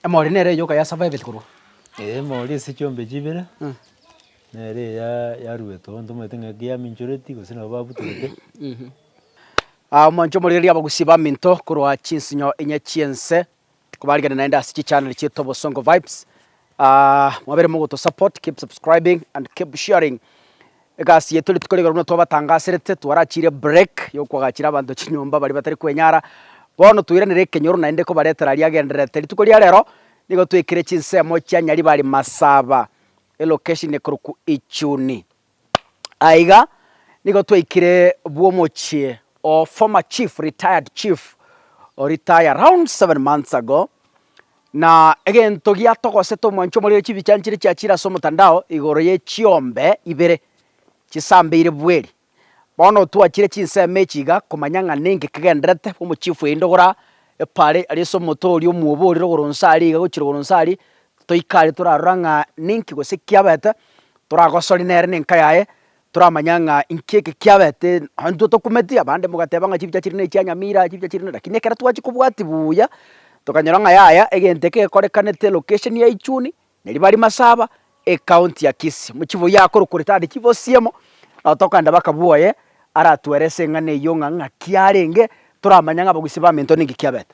Emori nere eyoka ya saba ebere korwa. Emori ase chiombe chibere, nere eya yaruete onto omanyete ng'a ekiya aminchoreti gose nabo babutorete. Omonto omorioreria abagusi baminto korwa chinsinyo inye chi'ense, kobarigereria naende ase chichaneli chiaito Bosongo Vibes, Mwabere mogoto support, keep subscribing and keep sharing. Egasi yaito rituko rigoro buna twabatangaserete, twarachiire break ya okwagachera abanto chinyomba baria batari kwenyara. Bono toiranere ekenyoro naende kobaretera aria agendererete. Rituko ria rero nigo twekire chinsemo chia Nyaribari Masaba, elocation ekorokwa Ichuni. Aiga nigo twaikire bw'omochie o former chief, retired chief o retire round seven months ago, na egento giatogosete omwancho omorere chibichani chiria chiachire ase omotandao igoro ye chiombe ibere chisambeire bweri. Bono twachire chinsemo echi iga komanya ng'a nenge kegenderete omochief yaindogora epara aria ase omote oria omwoborire igoro inse aria iga gochia igoro inse aria, Toikari torarora ng'a ninki gose kiabete, toragosori nere na enka yaye, toramanya ng'a inki eke kiabete, nonya intwe tokumeti, abande mogateba ng'a chibicha chiri nechia nyamira, chibicha chiri ne lakini ekero twachia kobwatia buya, tokanyora ng'a yaya egento eke gekorekanete location ya ichuni, na ribari masaba, ecounty ya kisii. Mochie boyio akorokwa ritadi chibosiemo, nabo tokaenda baka bwoye, aratuelese eng'ana eyio ng'a ng'aki arenge, toramanya ng'a abagusi baminto ninki kiabete.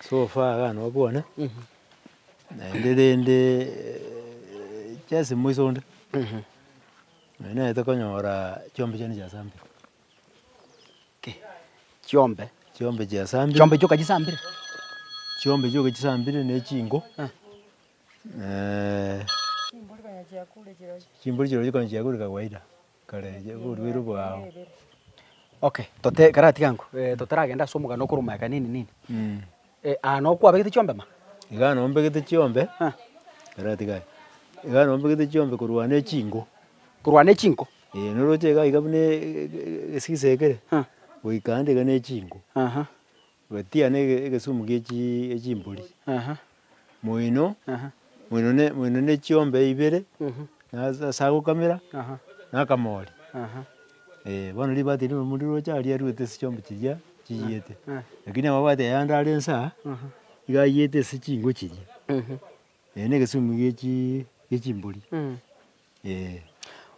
So far iga nobwane, naende rende chiasimo isonde, nonye naete konyora chiombe chiane chiasambire, Ki? Chiombe? chiombe chiasambire. Chiombe chioka chisambire? Chiombe chioka chisambire na echingo, Eh. chimbori konya chiakure chikawaida. Karenge oborweri bwao. Okay, tote karatiga ango, eh, totaragenda ase omogano okorwa omoyaka nini nini, Mm. eh, aa noo kwabegete chiombe ma? Igaa noo mbegete chiombe, Ah. karatiga aye, igaa noo mbegete chiombe korwana echinko. Korwana echinko? Ee, noroche igaa iga buna e- e- e- egesisa ekere, Ah. goika ande iga na echinko. Aha. Gwetia ne egesumu gie chimbori moino, moino ne chiombe ibere, ase agokamera na akamori. Ee, bono ribati rire omuya roche aria riruete ase chiombe chiria chiiyete. Rakini amabati aya ande are insa, iga aiyete ase chinko chiria. Ee, negesumi gie chi- gie chimbori. Ee.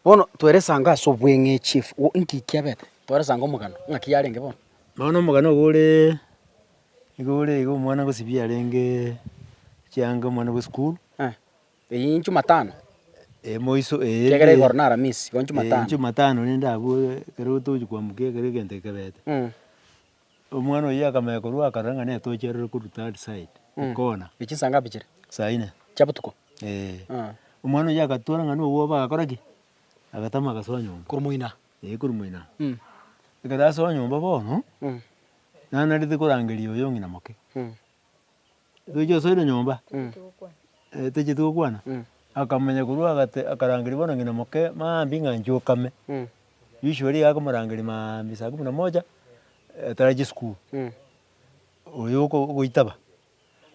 Bono tweresango ase obweng'echi efu- o- inki kiabete? Tweresango omogano ng'aki yarenge bono. Bono omogano obo ore, nigo ore iga omwana gosibia arenge chianga omwana bwe school. Eh, eyio inchumatano? Ee, moiso ee. Kiagera igoro na aramisi, igo inchumatano. Inchumatano rende abwo ekero tochi koamuka ekero egento ekebete. Omwana oyio akamanya korwa akarora ng'a netochi arore korwa third side, ekona. Echi saa ngapi chire? Saa ine. Chia botuko? Eeh. Aha. Omwana oyio agatwora ng'a nobwoba agakora ki? Agatama agasoa nyomba. Korwa moino aa? Eeh korwa moino aa. Mh. Ekero asoa nyomba bono, Mh. nanarete korangeria oyo ng'ina moke. Mh. Tochi gosoera nyomba, eh tocheti gokwana, akamanya korwa agate akarangeria bono ng'ina moke maambia ng'a inche okame, risigo riria akomorangeria maambia saa kumi na moja atarache esukuru, oyo oko ogoitaba.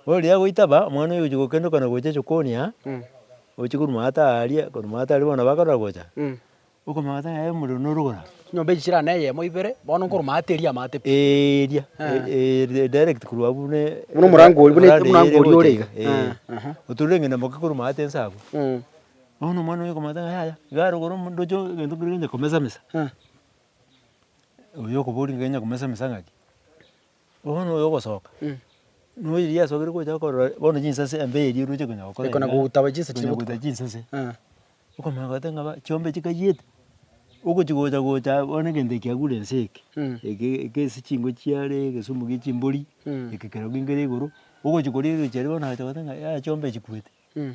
Bono riria agoitaba, omwana oyo ogochia gokendoka na gocha sokoni aa, oche korwa maata aria, korwa maata aria bono nabo akarora gocha. Okomanya gose ng'a omorero norogora. Chinyomba echi chirane eyemo ibere, bono nkorwa maate eria amaate pi. Eeh eria, eh. eh direct korwa abwo buna eh. Buna omorango oria, buna omorango oria ore iga. Eh, aha. Otorire eng'ende moke korwa maate inse abwo. Eeh. Bono omwana oyo okomanya ng'a yaya, iga arogore omondoche oo egento keria onya komesa mesa. Eeh. Oyo okobori ng'a onya komesa mesa ng'aki. Bono oyo ogosoka, noyo riria asokire gocha akorora bono chinsase embe eria oroche konya gokora Ekona igaa, gotaba chinsa konya chigotuba. gotuba chinsase. Eh. Okomanya goteba ng'a ba- chiombe chikayete, ogochi gocha gochaa bono egento eke kiagure ense eke, Mm. eke eke ase chingo chiare, egesumu gie chimbori, Mm. eke kero kengire igoro, ogochi koria erochia riria bono agacha goteba ng'a yaya chiombe chikwete. Mm.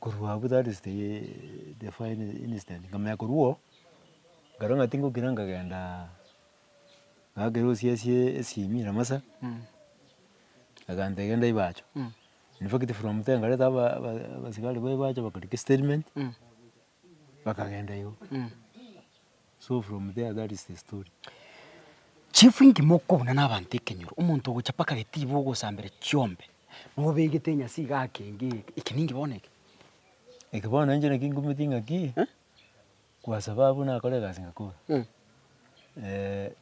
Korwa abwo that is the final incident, nkamanya korwa oo, nkarora ng'a tingokira nkagenda ngakera osiesie esimi ramasa, agantebia genda ibacho, in fact from there nkareta aba aba abasikari ba ibacho bakarika estatement, bakagenda igo. So from there that is the story. Chief inki mokobuna na abanto ekenyoro omonto ogocha paka getiba ogosambera chiombe nobegete enyasi iga ake enga eke eke ninki bono eke. Eke bono inche naki ngumeti ng'aki kwasaba abwo nakore egasi ngakora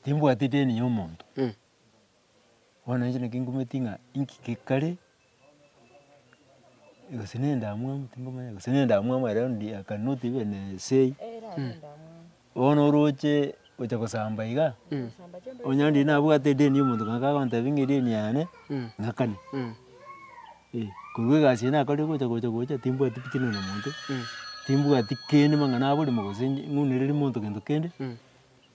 timbwati deni ya omonto. Bono inche naki ngometi ng'a inki gekare, gose na endamwamu tingomanya, gose na endamwamu ere bono I can not even say, bono oroche gocha gosamba iga, onye onde nabwate edeni ya omonto ng'ake agontebia ng'a edeni yane ng'akane, eh, korwa egasi eye nakorire gocha gocha gocha timbwati fitina na omonto, timbwati kende mang'ana aborimo gose ng'unereri monto gento kende.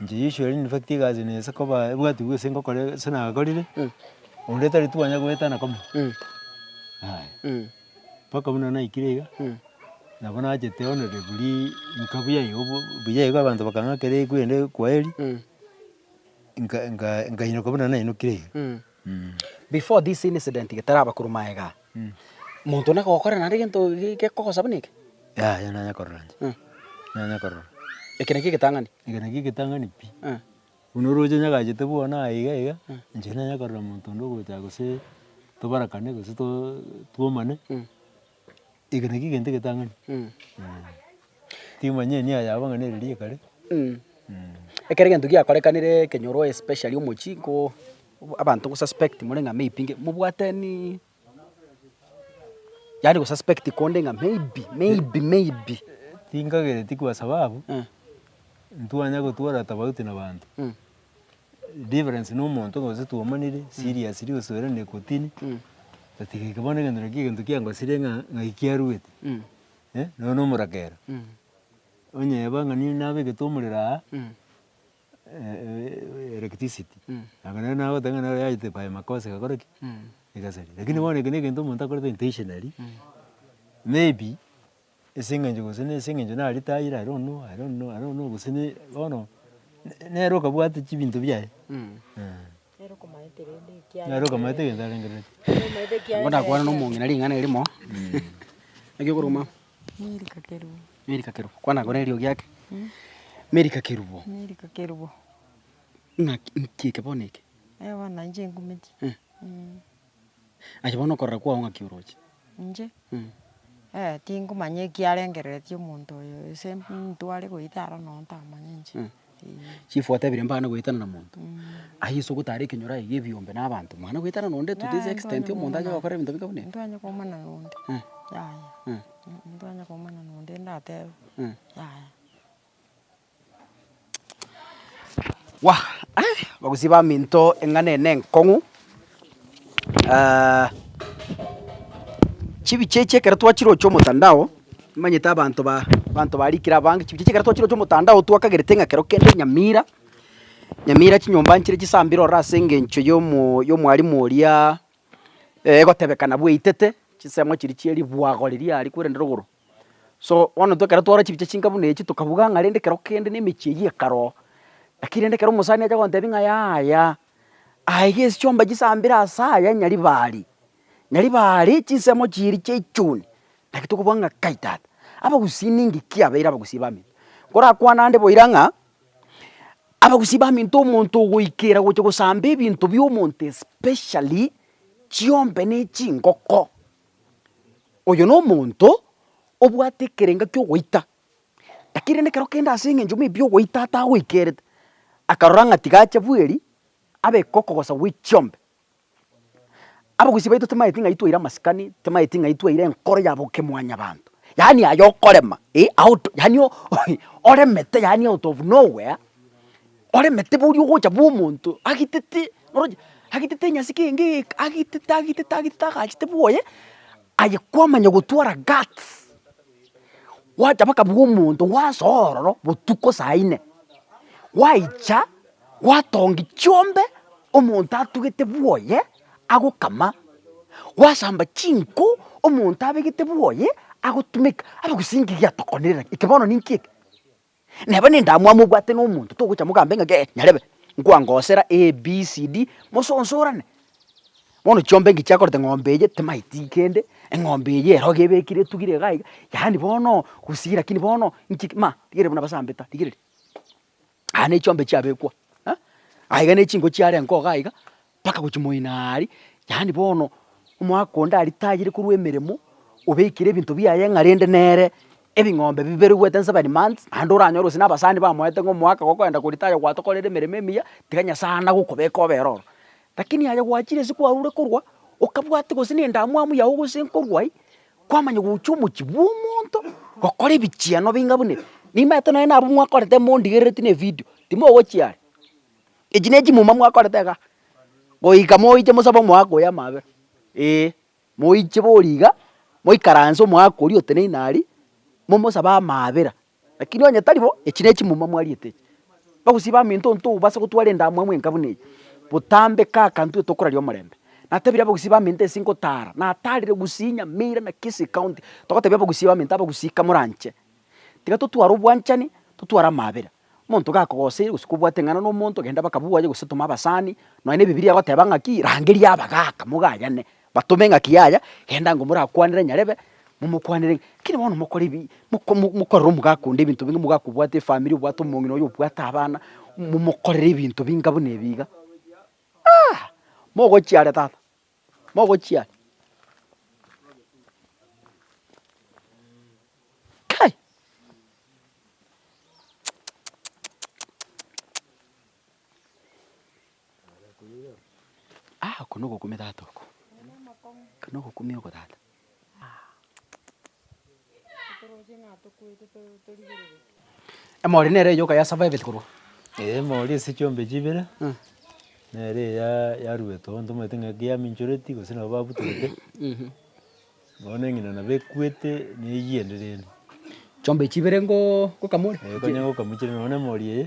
Inche Joshua rende nifagete egasi na ase koba ebwati bw'ase ngokora ase nagakorire, onde tari twanya goetana koma, yaya. Mpaka buna naikire iga, nabo nachete onore buri nka buya iga obo buya iga abanto bakang'akera ekwende kwaheri, nka- nka- nkainyoka buna nainokire iga. Before this incident getaraba korwa magega, monto one akogokora naende gento gekogosa buna eke? Yaya nanya korora inche, Eh. nanya korora. Eke nakio egetang'ani? Eke nakio egetang'ani pi. Eh. Buna oroche nyagachete bono aye iga iga, inche nanya korora monto onde ogocha gose tobarakane gose to- twomane. Eke nakio egento egetang'ani, timanyie nia yabo ng'a neri riia ekare. Ekero egento giakorekanire ekenyoro especially omochie ko abanto gosuspect more ng'a maybe nge mobwateniiii yaani gosuspect konde ng'a maybe maybe maybe. Tinkagereti kwa sababu, ntwanya gotwara tofauti na banto. difference na omonto gose twaomanire serious ria osoera na ekotini, otatiga eke bono egento naki egento kiangosire ng'a ng'ai kiaruete eh, nonya na omorakera. Onyeba ng'a nigo nabegete omorero aa electricity, nabo nere nagoteba ng'a nero yachete by makosa egakora ki? Egasaria. Lakini bono eke na egento omonto akorete intentionally, maybe. ase eng'encho gose na ase eng'encho nare tire I don't know, I don't know, I don't know gose ne bono nere okabwate chibinto biaye Nere okomaete rende ekiagera. nere okamaete egento arengerere. Nere omaete ekiagera. Bono nakwane na omong'ina ring'ana erimo, naki okoruma? Meri kakerubo. Meri kakerubo. Kwana kore eriogi ake. Meri kakerubo. Meri kakerubo. Ng'aki, nki eke bono eke? Bono nainche ngumeti. Aye bono okorora kwao ng'aki oroche? Inche? Eh, tingomanya ekiarengereretie omonto oyo, gose ntware goita aro noo ntamanya inche, eh. Chief otebirie mbana goetana na monto, aye ase ogotara ekenyoro aye gebiombe na abanto, mwana goetana na onde to this extent omonto aye gokora ebinto bike buna ebi? Ntwanye koumana na onde, yaya, ntwanye koumana na onde ndatebe, yaya. Wah! Abagusii baminto eng'ana eye nenkong'u, chibiche echi ekero twachiroche omotandao, nimanyete abanto ba abanto barikire abange, chibiche echi ekero twachiroche omotandao twakagerete ng'a kero kende Nyamira, Nyamira chinyomba nchire chisambire ororo ase engencho yomo yomwarimu oria egotebekana bweitete, chinsemo chiria chie ribwago riria aria korende rogoro. So, bono intwe ekero twarora chibicha chinka buna echi tokabuga ng'a rende kero kende nemechie eyio ekare oo. Lakini rende ekero omosani acha gontebia ng'a yaya, aa iga ase chiomba chisambire ase aya Nyaribari, Nyaribari chinsemo chiiri chia echuni, naki tokobuga ng'a kai tata, abagusii ninki ki abeire abagusii baminto? Nkorakwane ande boira ng'a, abagusii baminto omonto ogoikera gocha gosamba ebinto biomonto especially chiombe ne chingoko. Oyo nomonto obwate ekerenga ki'ogoita, lakini rende ekero kende ase eng'encho maybe y'ogoita atagoikerete, akarora ng'a tiga ache bweri abe kokogosa gwe chiombe. Abagusii baito timanyeti ng'ai twaire amasikani, timanyeti ng'ai twaire enkoro ya bokemwanyabanto, yaani aye okorema eh out yaani oremete yaani out of nowhere. Oremete boria ogocha bw'omonto agitete, oroche agitete enyasi kenge egeka, agitete, agitete, agitete agachete bwoye, aye kwamanya gotwara guts, gwacha mpaka bw'omonto gwasoa ororo botuko saa ine, gwaicha gwatongi chiombe omonto atugete bwoye agokama, gwasamba chinko omonto abegete bwoye agotumeka, abagusinki gatokonera eke bono ninki eke? Neba nendamwamu obwate nomonto togocha mogambe ng'a gee nyarebe nkwangosera ABCD mososorane. Bono chiombe inki chiakorete ng'ombe eye timaeti kende, eng'ombe eye eroge ebekire etugire iga iga yaani bono gusii lakini bono inchik ma rigereria buna basambeta rigereria. Aya nechiombe chiabekwa eh, aiga nechinko chiare enko iga iga. Mpaka gochia moino aria, yaani bono omogaka onde aritayire korwa emeremo, obeekire ebinto biaye ng'a rende nere ebing'ombe biberugwete in seven months, naende oranyore gose na abasani bamoete ng'a omogaka gokoenda koritaya gwatokorere emeremo emiya, tiga Nyasaye anga gokobeka obe ororo. Lakini aye gwachire ase kwarure korwa, okabwati gose nendamwamu yago gose nkorwa aywo, kwamanya gocha omochie bwomonto, gokora ebichiano bing'a buna ebi. Nimanyete nonye nabo mwakorete mondigerereti na evidio, timogochia are. Echi nechimuma mwakorete iga, goika moiche mosabe omoaka oyo amaabera, ee, moiche boria iga, moikaranse omoaka oria oteneine aria, momosabe amaabera, lakini onye tari bo, echi nechimuma mwariete echi. Bagusii baminto ntobasa gotwara endamwamu enka buna eye, botambe kaka ntwe tokoraria omorembe. Natebirie abagusii baminto ase ngotara, natarire gusii nyamira na kisii county, togotebia abagusii baminto abagusii kamoranche, tiga totware obwanchani, totware amaabera. Omonto gakogoseire gose kobwate eng'ana nomonto genda baka bwoye gose toma abasani, nonya na ebibilia egoteba ng'aki rangeria abagaka mogayane, batome ng'aki yaya genda ngo morakwanere nyarebe momokwanere ng'a keri bono mokore ebi moko mo mokorere omogaka onde ebinto binge omogaka obwate efamiri obwate omong'ina oyo obwate abana, momokorere ebinto binga buna ebi iga, aah! mogochiare tata. mogochiare Kai! Aa oko nogokumia tata oko, oko nogokumia oko tata. Emori nere eyoka ya survived korwa. Eeh emori ase chiombe chibere, nere eyaa yaruetwe abanto bamaete ng'a ekiya minchoreti gose nabo babutorete, bono eng'ina nabo ekwete na eywo ende rende. Chiombe chibere ngoo ngokamori? Eeh konya ngokamochire nonya na emori eye.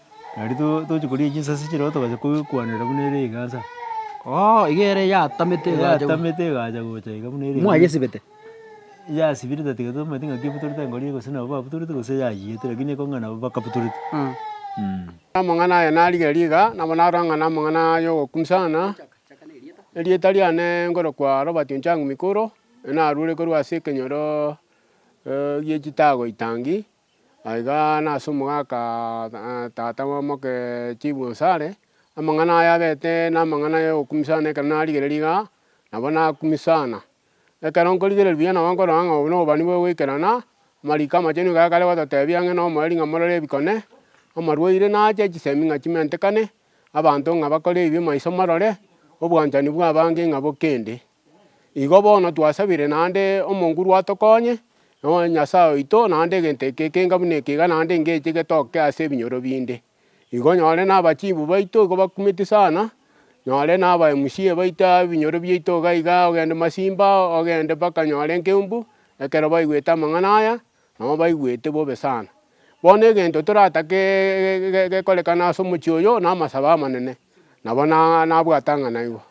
Nari to- tochi koria chinsase chire igo togacha koi- kwanera buna ere egaasa. Oo, iga ere yatamete Ere egacha. yatamete egacha gocha iga buna ere egacha. Mwayesibete? Yasibire tatiga tomanyeti ng'aki ebutorete angoro iga gose nabo babutorete gose yayiete lakini ekong'a nabo bakabutorete. Mh. Amang'ana aya narigereria iga, nabo narora ng'a namang'ana yogokumia sana, erieta riane nkorokwa Robert Onchang Mikuro, naruerekorwa ase ekenyoro gie chitago itangi. Na iga nase omogaka tata b'omoke chifu onsi are, amang'ana aya abete namang'ana ay'ogokumisana ekero narigereria iga, nabo nakumisana. Ekero nkorigereria buya nabo nkorora ng'a obo nobobani bw'ogoikerana, amariko amachenu iga akare gototebia ang'e na omoerio ng'a morore ebikone, amarwaire nache, chisemi ng'a chimentekane, abanto ng'a bakore ebibe maiso morore, obwanchani bw'abange ng'a bokende. Igo bono twasabire naende omonguru atokonye, nonya Nyasae oito, naende egento eke ekenga buna ekiga naende engecho egetoke ase ebinyoro binde. Igo nyore naba chifu baito igo bakumeti sana, nyore naba MCA baito aa ebinyoro biaito iga iga ogende Masimba, ogende mpaka nyore Nkeumbu, ekero baigwete amang'ana aya, nabo baigwete bobe sana. Bono egento toratake gekorekane ase omochie oyo, namasabo amanene, nabo na nabwate ang'ana igo.